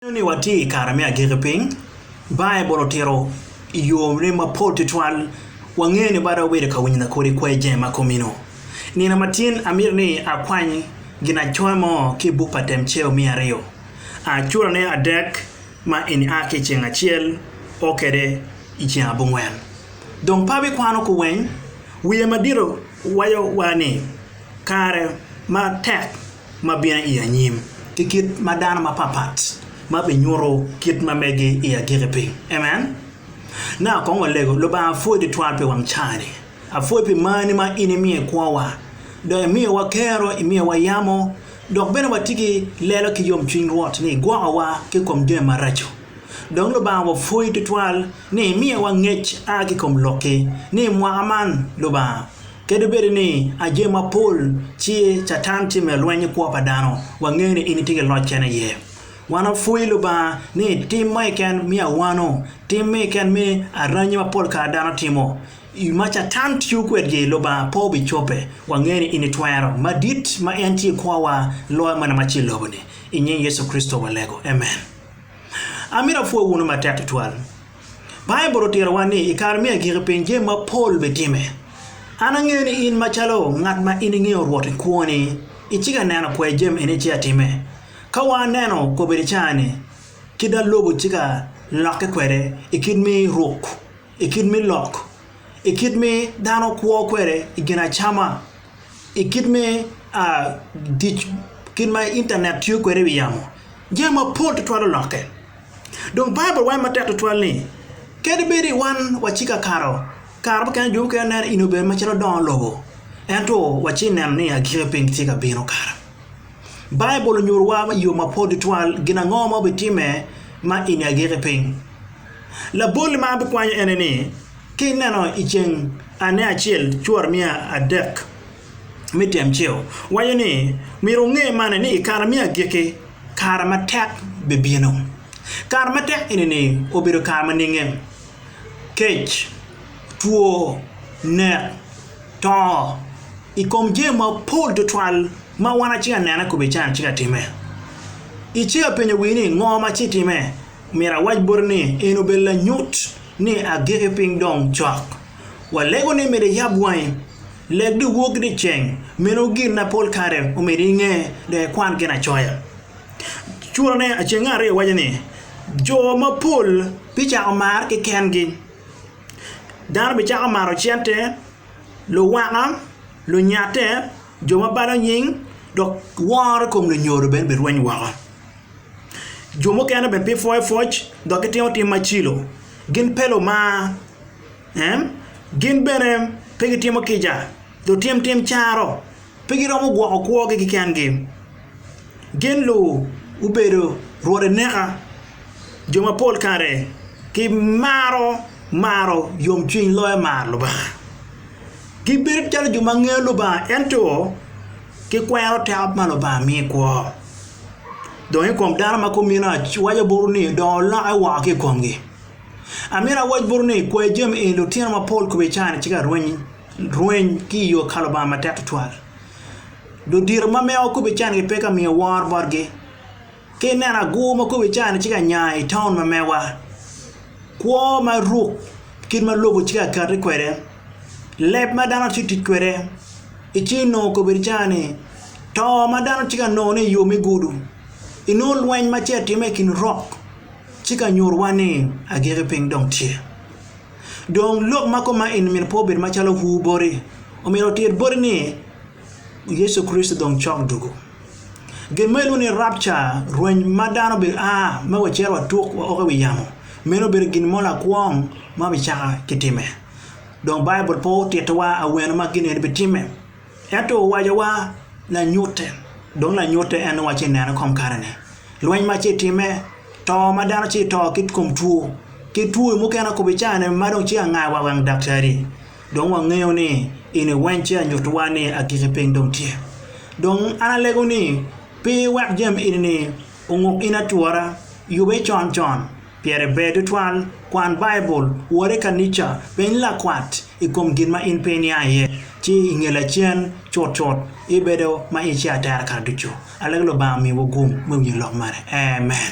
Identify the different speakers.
Speaker 1: Neno ni watye i kare me agikki piny, Baibul otito i yone mapol tutwal. Wangeyo ni bada wabedo ka winyo lakodi kwer jenge ma komino. I nino ma tin, amito ni akwany ginacoya mo ki i buk pa Temceo me Aryo. A curane adek ma eni a ki i ceng acel, o kwede i ceng abongwen. Dong pe abikwano kuweny. Wiye madito waco wa ni kare ma tek ma bino i anyim ki kit ma dano mapatpat ma binyuto kit ma megi i agikki piny. Amen. Nongo akong olego, Lubanga apwoyi twatwal pi wang caa-ni. Apwoyi pi marni ma in imiyo i kwowa, dok imiyowa kero, imiyowa yamo, dok bene watye ki lelo ki yomcwiny Rwot ni igwokowa ki i kom jami maraco. Dong Lubanga wapwoyi twatwal ni imiyowa ngec a ki i kom Lokki ni i mwaka man, Lubanga, Kadi bed ni aje mapol ci Catan tye me lweny ki kwo pa dano, wangeyo ni en tye ki loc kene iye. Wan wapwoyo Lubanga ni tim mo keken miyo awano, tim mo keken miyo aranyi ma pol kare dano timo. I ma Catan tiyo kwedgi, Lubanga pe obicobe. Wangeyo ni en ni twero madit ma en tye i kwowa loyo mene ma tye i lobo-ni. I nying Yecu Kricito walego, amen. Amito apwony wunu matek tutwal. Baibul otitowa ni i kare me agikki piny jami mapol bitimme. An angeyo ni in macalo ngat ma in ingeyo Rwot i kwoni, icika i neno pwer jami eni ci atimme. Ka wa aneno kobedi caa-ni, kit da lobo cika lokke kwede i kit me ruk, i kit me lok, i kit me dano kwo kwede i gin acama, i kit me dic kit ma intanet tiyo kwede i wi yamo, jami mapol tutwal olokke. Dong Baibul waco matek tutwal ni, Kadi bed ni wan waciki akato, kare mukene jo mukene neno in obedo macalo dongo lobo, ento wacci ineno ni agikki piny gitye ka bino kara. Baibul onyutowa i yo mapol tutwal gin ango ma obitimme ma i nge agikki piny. Laboli ma an abikwanyo ene ni, Ka ineno i ceng ane acel cwor miya adek me tyemceo, waco ni myero wunge mani ni i kare me agikki Kare matek bibino. Kare matek eni-ni obedo kare ma ninge? Kec, two, nek, to i kom jami mapol tutwal ma wan acika anene kobedi cani acika atime. Icika apenyo wii ni ngo ma ci time? Myero awac boti ni eni obedo lanyut ni agikki piny dong cok. Walego ni myero iyab wangi. Leg dong wok ni ceng meno gin ma pol kare omedi inge dong ikwan Ginacoya. Curone acenge aryo waco ni jo mapol bicako marre kekengi. Dano bicako maro cente, luwaka, lunyatte, jo ma balo nying, dok woro i kom lunyodo bene birweny woko. Jo mukene bene bipwoyopwoc dok gitimo tim macilo. Gin pe lumar. En, Gin bene pe gitimo kica, dong tim tim caro, pe giromo gwoko kwogi kekengi. Gin lu gubedo rwode neka, jo mapol kare gimaro maro yomcwiny loyo maro Lubanga. Gibedo calo jo ma ngeyo Lubanga ento gikwero teko ma Lubanga miyo i kwo. Dong i kom dano ma kumeno, waco buru ni dong olokke woko ki i komgi. Amito awac botwu ni, kwayo jami eni lutino mapol kome i caa-ni ci ka rweny rweny ki i yo ka Lubanga matek tutwal. Ludito ma mewa kome i caa-ni pe ka miyo woro botgi. Ka ineno agur ma kome i caa-ni ci ka nya i taun ma mewa, kwo ma ruk kit ma lobo ci ka kati kwede, leb ma dano ci tic kwede, iciyo nongo kome i caa-ni, to ma dano ci ka nongone i yo me gudo, inongo lweny ma ci atimme i kin rok. Ci ka nyutuwa ni agikki piny dong tye. Dong lok ma kom ma eni myero pe obed macalo huu boti. Omyero otir boti ni Yecu Kricito dong cok dugu. Gin ma ilwongo ni rapture, rweny ma dano obedo a ma wacito watuk wa oko i wi yamo, meno obedo gin mo lakwong ma bicaka kitime. Dong Baibul pe otittiwa awene ma gin eni bitimme. Ento owacowa, Lanyutte. Dong lanyutte en nongo ci neno i kom karene, lweny ma ci timme, to ma dano ci to ki kom two, ki twoi mukene akobo i caa-ni ma dong ci anga wa wang daktari. Dong wangeyo ni in iweny ci anyuttiwa ni agikki piny dong tye. Dong an alego ni, pi wek jami eni-ni onguk in atwora, yube con con, Pire ber tutwal, Kwan Baibul, wor i kanica, peny lakwat i kom gin ma in pe iniang iye, ci i nge lacen, cutcut ibedo ma ice atera kare ducu. Alego Lubanga omiwu gum me winyo lok mene. Amen.